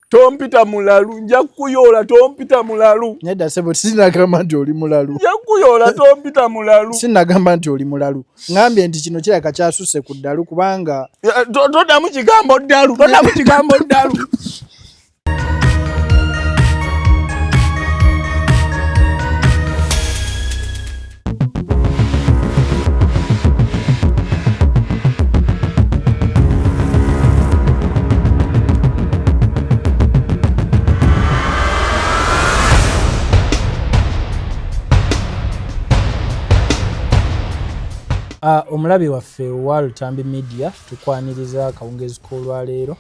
Tompita mulalu nja kukuyoola tompita mulalu. Nedda sebo sinagamba nti oli mulalu. Nja kukuyoola tompita mulalu. Sinagamba nti oli mulalu. Ngambye nti kino kirabika kyasusse ku ddalu kubanga. Toddamu kigambo ddalu toddamu kigambo ddalu. Ah, omulabi waffe owa lutambi media tukwaniriza akawungezi k'olwaleero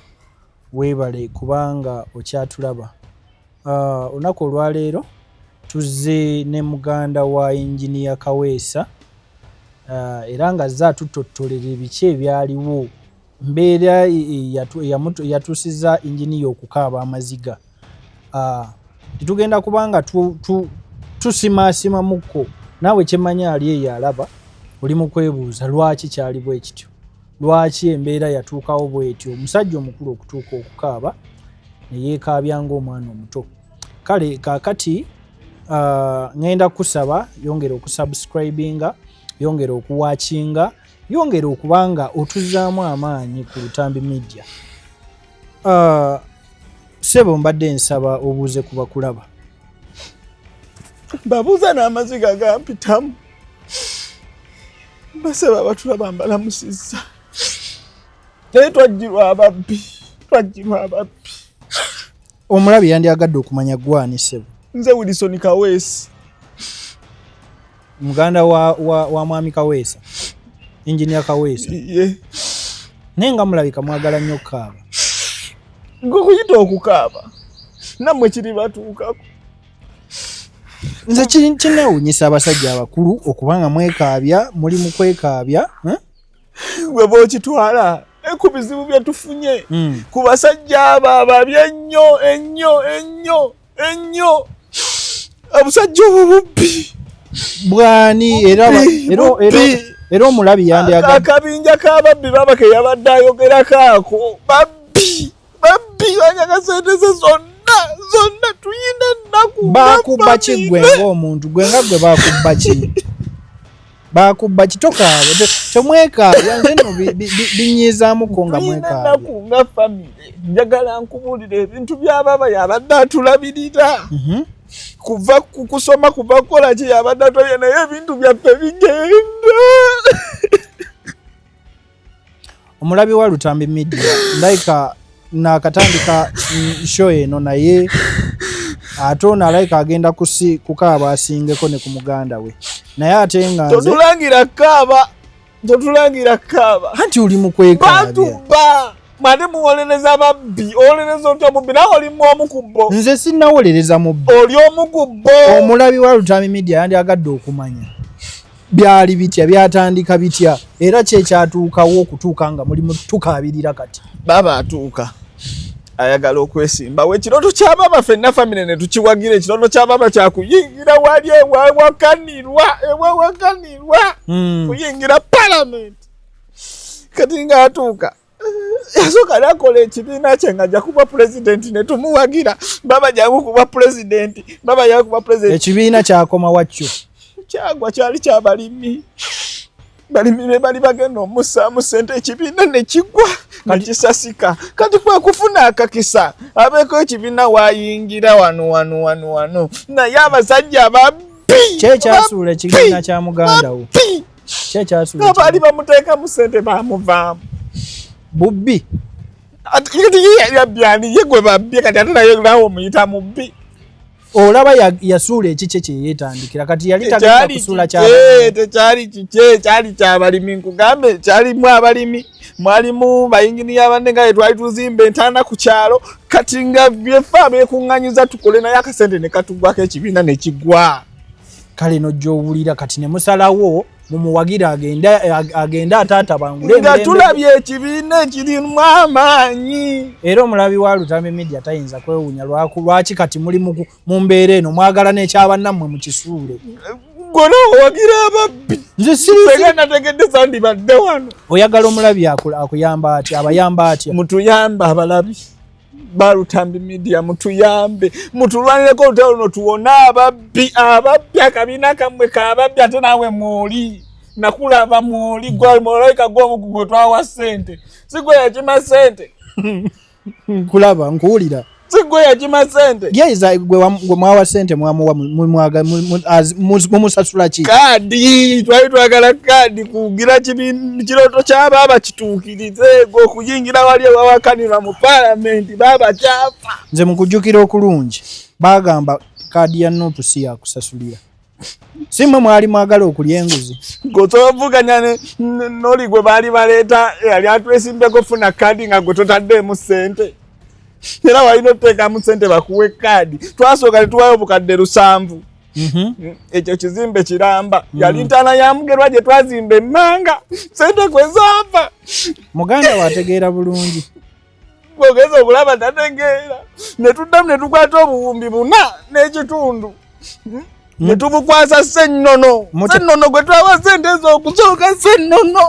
weebale kubanga okyatulaba Ah, olunaku olwaleero tuzze ne muganda wa yinginiya kaweesa ah, era nga zze atutottolera ebiki ebyaliwo mbeera e, e, yatuusiza yinginiya okukaaba amaziga ah, tetugenda kubanga tusimaasimamuko naawe kyemanya ali eyo alaba oli mu kwebuuza lwaki kyali bwe kityo lwaki embeera yatuukawo bwetyo omusajja omukulu okutuuka okukaaba neyeekaabya ngaomwana omuto kale kakati uh, ngenda kusaba yongera okusubscribinga yongera okuwakinga yongera okubanga otuzaamu amaanyi ku lutambi media uh, sebo mbadde nsaba obuuze kubakulaba babuuza n'amaziga gampitamu basaba abatula bambalamusizza naye twajjirwa ababbi twajjirwa ababbi omulabi yandyagadde okumanya gwani sebo nze wilison kaweesi muganda wa, wa, wa mwami kaweesa enginia kaweesa yeah. naye nga mulabika mwagala nnyo okukaaba gwe kuyita okukaaba nammwe kiribatuukako nze kinewunyisa abasajja abakulu okuba nga mwekaabya muli mu kwekaabya eh? weba okitwala ku bizibu bye tufunye hmm. ku basajja abo ababi ennyo ennyo ennyo ennyo obusajja obwo bubbi bwani era era omulabi yandi akabinja k'ababbi baba ke yabadde ayogerako ako babbi babbi banyaga sente ze zonna zonna tuyina ennaku bakubba ki gwe ngaomuntu gwe nga gwe bakubba ki bakubba ki tokaabe temwekaabya nze no binyiizamuko nga mwekaabenaku nga famire njagala nkubuulira ebintu byababa yabadde atulabirira mhm. kuva kukusoma kuva kukola ki yabadde atulabirira naye ebintu byaffe bigenda omulabi wa lutambi media ndayika nakatandika show eno naye ate ono alayika agenda kusi kukaaba asingeko ne ku muganda we naye ate nga totulangira kaaba totulangira kaaba anti oli mukwekabatuba mani muwolereza babbi owolereza otya mubbi nawe olimu omu ku bo nze sinawolereza mubbi oli omu ku bo omulabi wa lutami media yandi agadde okumanya byali bitya byatandika bitya era kyekyatuukawo okutuuka nga mulimu tukaabirira kati baaba atuuka ayagala okwesimba we ekiroto kya baba fenna famire ne tukiwagira ekiroto kya baba kyakuyingira wali ewawakanirwa ewawakanirwa hmm. kuyingira palamenti kati nga atuuka yasooka nakola ekibiina kye nga ajja kuba pulezidenti ne tumuwagira baba jangu kuba pulezidenti baba jangu kuba pulezidenti ekibiina kyakoma wakyo kyagwa kyali kyabalimi balimi be bali bagenda omusaamu sente ekibiina ne kigwa ne kisasika kati kwe kufuna akakisa abeeko ekibiina wayingira wano wano wano wano naye abasajja babbi kyekyasuula ekibiina kya muganda wo kyekyabaali bamuteekamu sente bamuvaamu bubbi yabyani ye gwe babbye kati ate naye nawe omuyita mubbi olaba yasuula ekikye kyeyetandikira kati yali tagenda kusuula tekyali kikye kyali kyabalimi nkugambe kyalimu abalimi mwalimu bayinginiya banne nga yetwali tuzimba entaana ku kyalo kati nga byefe abekuŋŋanyiza tukole naye akasente ne katugwako ekibiina ne kigwa kale nojowulira kati nemusalawo mumuwagira agende agende atatabangule nga tulabye ekibiina ekirimu amaanyi era omulabi wa lutambi media tayinza kwewunya lwaku lwaki kati muli mu mbeera eno mwagala nekyabannammwe mu kisuule gwona owagira ababbi nzesirega nategedde sandi badde wano oyagala omulabi akuyamba atya abayamba atya mutuyamba abalabi balutambi media mutuyambe mutulwanireko olutalo luno tuwone ababbi ababbi akabiina kammwe kababbi ate naawe mwoli nakulaba mwoli gwalmolaika gwomugu gwe twawa sente sigwe yakima sente nkulaba nkuwulira sigwe yakima sente yeiza gwe mwawa sente mwamuwa mumusasula ki kadi twali twagala kadi kugira kiroto kyaba abakituuki okuyingira wali ewawakanirwa mu palamenti baba kyapa nze mukujjukira okulungi bagamba kaadi ya nupu si yakusasulira si mwe mwali mwagala okulya enguzi gwe tovuganya noli gwe baali baleeta eyali atwesimbeko funa kaadi nga gwe totaddeemu ssente era walina oteekamu ssente bakuwa ekkaadi twasooka ne tuwayo obukadde lusanvu mhm. ekyo kizimbe kiramba mm. yali ntaana ya mugerwa gye twazimba emmanga sente kwe zaava muganda wategeera bulungi ogeza okulaba tategeera ne tuddamu ne tukwata obuwumbi buna n'ekitundu hmm? ne tubukwasa sennono sennono gwe twawa sente ez'okusooka sennono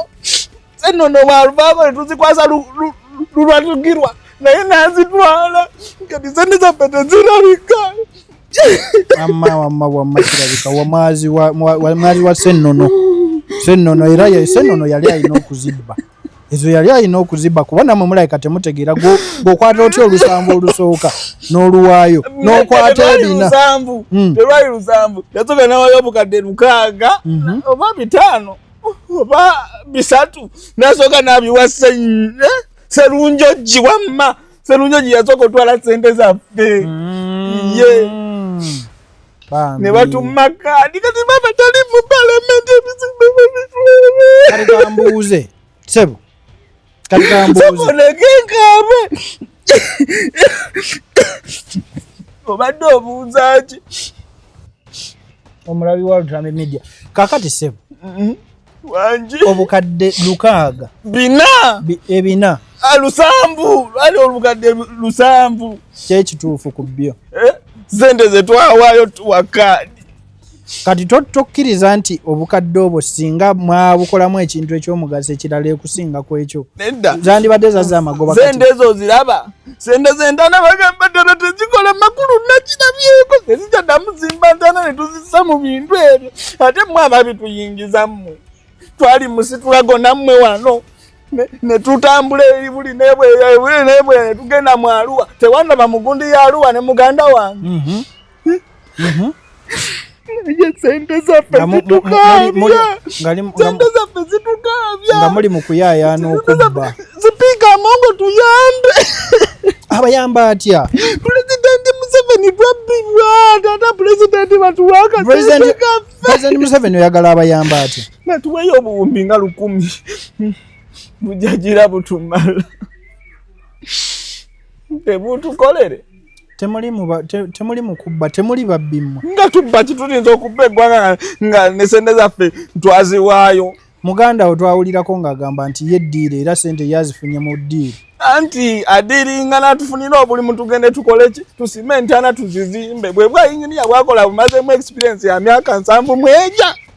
zenono waluvavo letuzikwasa lulwatukirwa naye nazitwala kati sente zapete zirabika wamma wamma wamma kirabika wamwazi wa senono senono era senono yali alina okuzibba ezo yali alina okuziba kuba namwe mulabika temutegeera gwokwata otya olusambu olusooka n'oluwaayo nokwata ebina hmm. yasooka nawayo obukadde lukaaga mhm. oba bitaano oba bisatu nasooka nabiwa serunjoji wamma serunjoji yasooka otwala sente zaffe mm. ye ne batumma kaadi kati baba tali mu palamenti ebizibu bambuuze sebo katambuuzamunekenkaabe obadde obuuzaaki omulabi wa lutame media kakati sebo mm-hmm. wangi obukadde lukaaga bina ebina ah, lusanvu ali olukadde lusanvu kyekituufu ku byo eh? sente zetwawaayo tuwakaadi kati tokkiriza nti obukadde obwo singa mwabukolamu ekintu ekyomugaso ekirala ekusinga ku ekyo zandibadde zaza amagoba sente ezo oziraba sente zentana bagamba ddala tezikola makulu nakirabyeko ezikyaddamu zimba ntana ne tuzisa mu bintu ebyo ate mwe ababituyingizamu twali musitulago nammwe wano netutambula eri buli nebwebuli nebwe netugenda mu aluwa tewandaba mugundi ya aluwa ne muganda wange mm -hmm. nga muli mu kuyayaana okubba sipiika amongo tuyambe abayamba atya pulezidenti museveni twabbirwa tata pulezidenti batuwakapulezidenti museveni oyagala abayamba atya natuweyo obuwumbi nga lukumi bujagira butumala tebutukolere temuli muba temuli mukubba temuli babbi mmwe nga tubba kitulinza okubba eggwanga nga ne sente zaffe twaziwaayo muganda wo twawulirako ng'agamba nti ye ddiiro era sente yazifunye mu ddiiro anti adiringa natufunira obulimu tugende tukole ki tusime entana tuzizimbe bwebwa yinginiya bwakola bumazemu experience ya myaka nsanvu mweja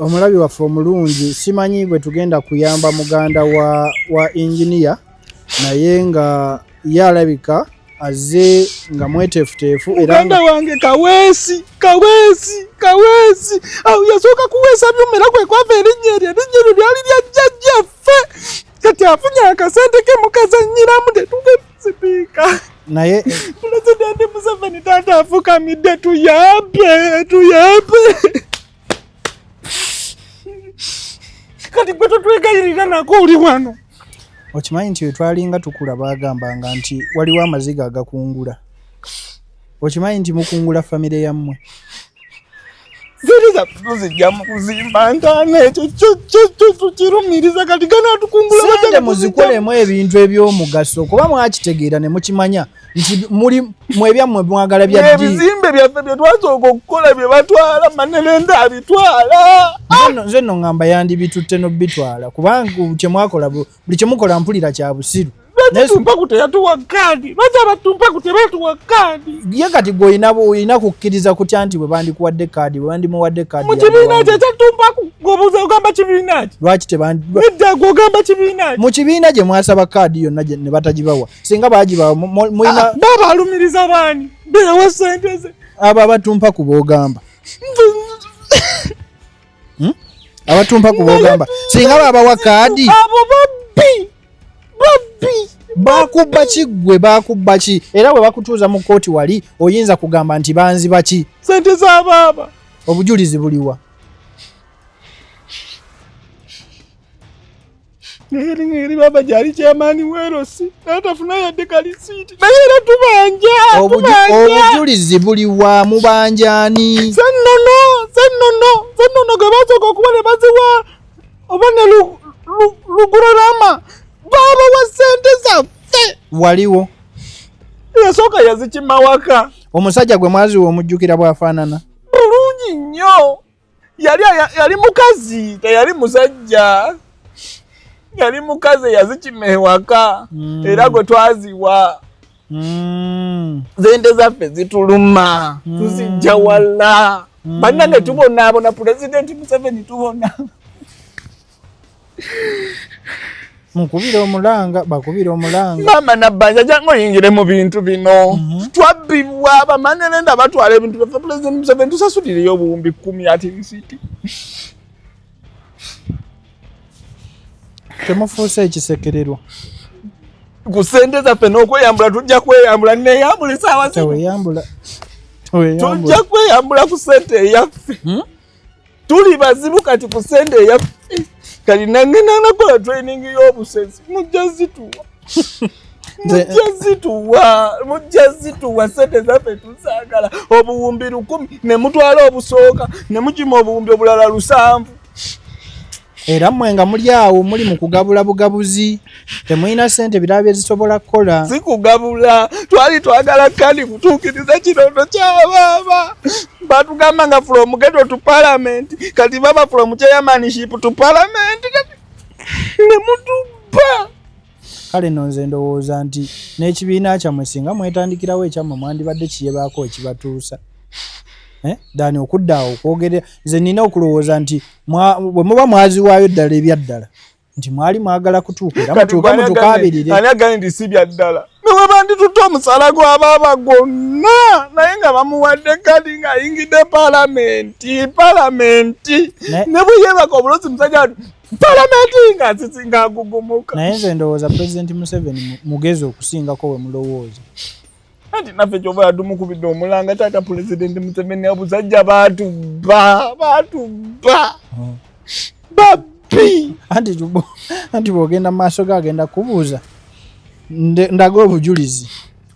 omulabi waffe omulungi simanyi bwe tugenda kuyamba muganda wa, wa inginiya naye nga ye alabika azze nga mweteefuteefu eraganda wange kaweesi kaweesi kaweesi awo yasooka kuweesa byuma era kwe kwava erinnya eryo erinnya eryo lyali lya jjajjaffe kati afunye akasente ke mukazannyiramu tetuge Sipiika naye pulezidenti Museveni taata afukamidde tuyambe tuyambe kati gwe totwegayirira nako oli wano okimanyi nti wetwalinga tukula bagambanga nti waliwo amaziga agakungula okimanyi nti mukungula famire yammwe ziri zaffe zijja mu kuzimba ntaana ekyo tukirumiriza kati ganatukungula sente muzikolemu ebintu ebyomugaso kuba mwakitegeera ne mukimanya nti muli mwebyammwe mwagala byaebizimbe byaffe bye twasooka okukola bye batwala manelenda abitwala nze no ngamba yandibitutte nobitwala kubanga kyemwakola buli kyemukola mpulira kya busiru ye kati gwe olina kukkiriza kutya nti bwebandikuwadde kaadi bwebandimuwadde kaadimu kibiina gye mwasaba kaadi yonna ne batagibawa singa bagibawa ah, babalumiriza baani bewa sente ze abo abatumpa ku bogamba hmm? abatumpa kubogamba singa babawa kaadi abo babbi babbi bakubba ki ggwe bakubba ki era bwe bakutuuza mu kkooti wali oyinza kugamba nti banziba ki sente za baaba obujulizi buliwa naye eri baba gyali kyamaani weerosi natafuna yadde kalisiiti naye era tubanja obujulizi buli wa mubanjani sennono sennono sennono gwe basooka okuba ne baziwa oba ne lugurarama baaba wa sente zaffe waliwo yasooka yazikimawaka omusajja gwe mwaziwa omujjukira bwafaanana bulungi nnyo yali yali mukazi teyali musajja yali mukazi eyazikima ewaka mm. era gwe twaziwa mm. zente zaffe zituluma mm. tuzijja wala mm. banange tubonaabona pulezidenti museveni tubona mukubira omulanga bakubira omulanga maama nabbanja jangu oyingire mu bintu bino mhm. twabbibwa bamanere nda batwala ebintu byaffe pulezidenti museveni tusasulireyo obuwumbi kumi ati risiti temufuuse ekisekererwa ku sente zaffe n'okweyambula tujja kweyambula neyambula esaawa zino tujja kweyambula ku sente eyaffe hmm? tuli bazibu kati ku sente eya kati nange nanakola training y'obusensi mujja zituwa mujja zituwa mujja zituwa sente zaffe tusaagala obuwumbi lukumi ne mutwala obusooka ne mukima obuwumbi obulala lusanvu era mmwe nga muli awo muli mu kugabula bugabuzi temulina sente birala bye zisobola kukola si kugabula twali twagala kandi kutuukiriza kirondo kya baaba batugamba nga from geto to parliament kati baba from chairmanship to parliament ne mutubba kale no nze ndowooza nti n'ekibiina kyammwe singa mwetandikirawo ekyammwe mwandibadde kiyebaako ekibatuusa eh? dani okudda awo okwogere nze nina okulowooza nti bwe muba mwaziwaayo ddala ebyaddala nti mwali mwagala kutuuka era mutuuke mutukaabirire ani agani nti si byaddala newebanditutte omusala gwa baaba gwonna naye nga bamuwadde kadi ng'ayingidde palamenti palamenti ne bwe yeebaka obulosi musajja palamenti nga zizinga agugumuka naye nze ndowooza pulezidenti museveni mugezi okusingako we mulowooza anti naffe kyoba yatumukubidde omulanga taata pulezidenti museveni abusajja batubba batubba hmm. babbi anti bwogenda mu maaso ge agenda kubuuza ndaga obujulizi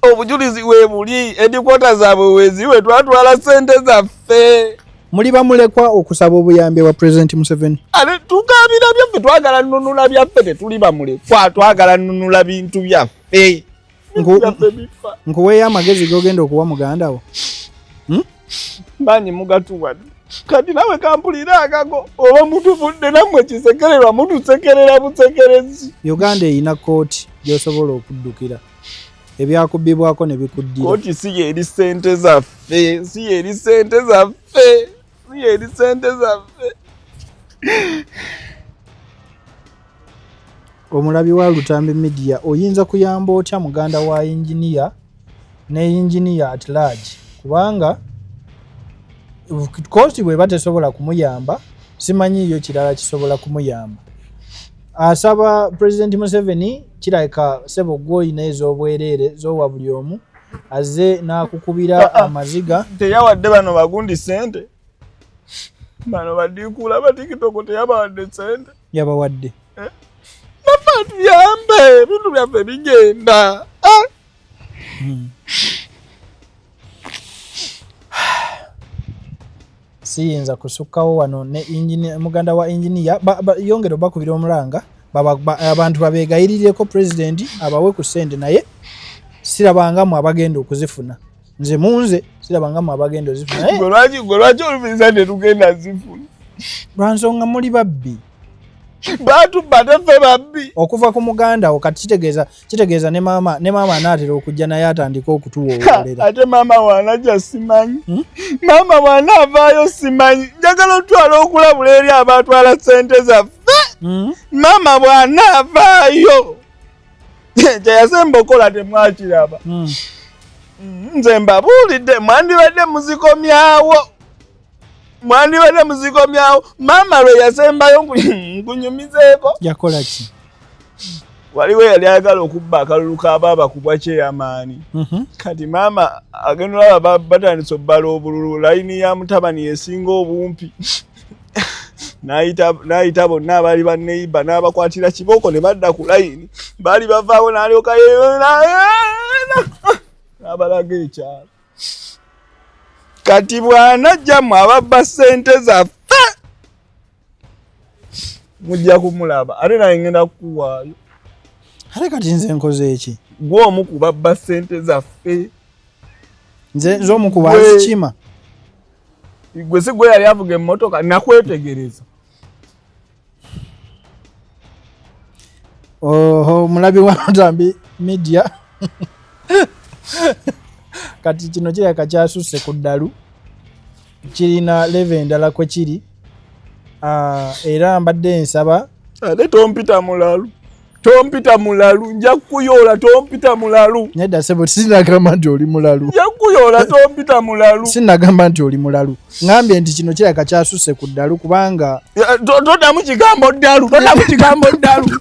obujulizi webuli edikwota zaabwe weziwe twatwala sente zaffe muli bamulekwa okusaba obuyambi wa president museveni ate tugambira byaffe twagala nunula byaffe tetuli bamulekwa twagala nunula bintu byaffe nkuweeyo amagezi gogenda okuwa muganda wo hmm? manyi mugatuwa kati nawe kampulira akago oba mutuvudde namwe kisekererwa mutusekerera busekerezi uganda erina kooti gyosobola okuddukira ebyakubbibwako ne bikuddira koti si yeri sente zaffe si yeri sente zaffe si yeri sente zaffe omulabi wa lutambi midiya oyinza kuyamba otya muganda wa yinginiya ne yinginiya at large kubanga koti bweba tesobola kumuyamba simanyiiyo kirala kisobola kumuyamba asaba president museveni kirabika sebo gwoyina ezobwerere zowa buli omu aze nakukubira ah, ah. amaziga teyawadde bano bagundi sente bano badikula batikitoko teyabawadde sente yabawadde eh? nafa tuyambe ebintu byaffe bigenda eh? hmm. siyinza kusukkawo wano ne muganda wa inginiya yongera obakubira omulanga abantu babegayirireko pulezidenti abawe ku sente naye sirabangamu abagenda okuzifuna nze munze sirabangamu abagenda ozifunalwaki oluviriza netugenda zifuna lwansonga muli babbi batubade ffe babbi okuva ku muganda wo kati kitegeeza kitegeeza ne maama ne maama anaatera okujja naye atandika okutuwoolera ate maama waanaja simanyi hmm? maama waanaavaayo simanyi njagala otwala okulabula eri abatwala sente zaffe hmm? maama bwanaavaayo kyeyasemba okola temwakiraba hmm. nze mbabuulidde mwandibadde muzikomyawo mwandibadde muzikomyawo maama lwe yasembayo nkunyumizeeko yakola ki waliwo yali ayagala okubba akalulu ka baaba kubwa kyeyamaani mhm. kati maama agenda olaba batandisa obbala obululu layini ya mutabani esinga obumpi n'ayita bonna abaali banneyiba n'abakwatira kibooko ne badda ku layini baali bavaawo n'alyoka yeyo n'abalaga ekyalo kati bwanajja mu ababba sente zaffe mujja kumulaba ate naye ngenda kukuwaayo ate kati nze nkoze eki gwe omu kubabba sente zaffe nze nze omu kubazikima gwe si gwe yali avuga emmotoka nakwetegereza Oho mulabi wa Ntambi Media kati kino kiraka kyasusse ku ddalu kirina leve endala kwe kiri ah, era mbadde nsaba ate ah, tompita mulalu tompita mulalu nja kukuyoola tompita mulalu nedda sebo sinagamba nti oli mulalu nja kukuyoola tompita mulalu sinagamba nti oli mulalu ngambye nti kino kiraka kyasuse ku ddalu kubanga todamu kigambo ddalu todamu kigambo ddalu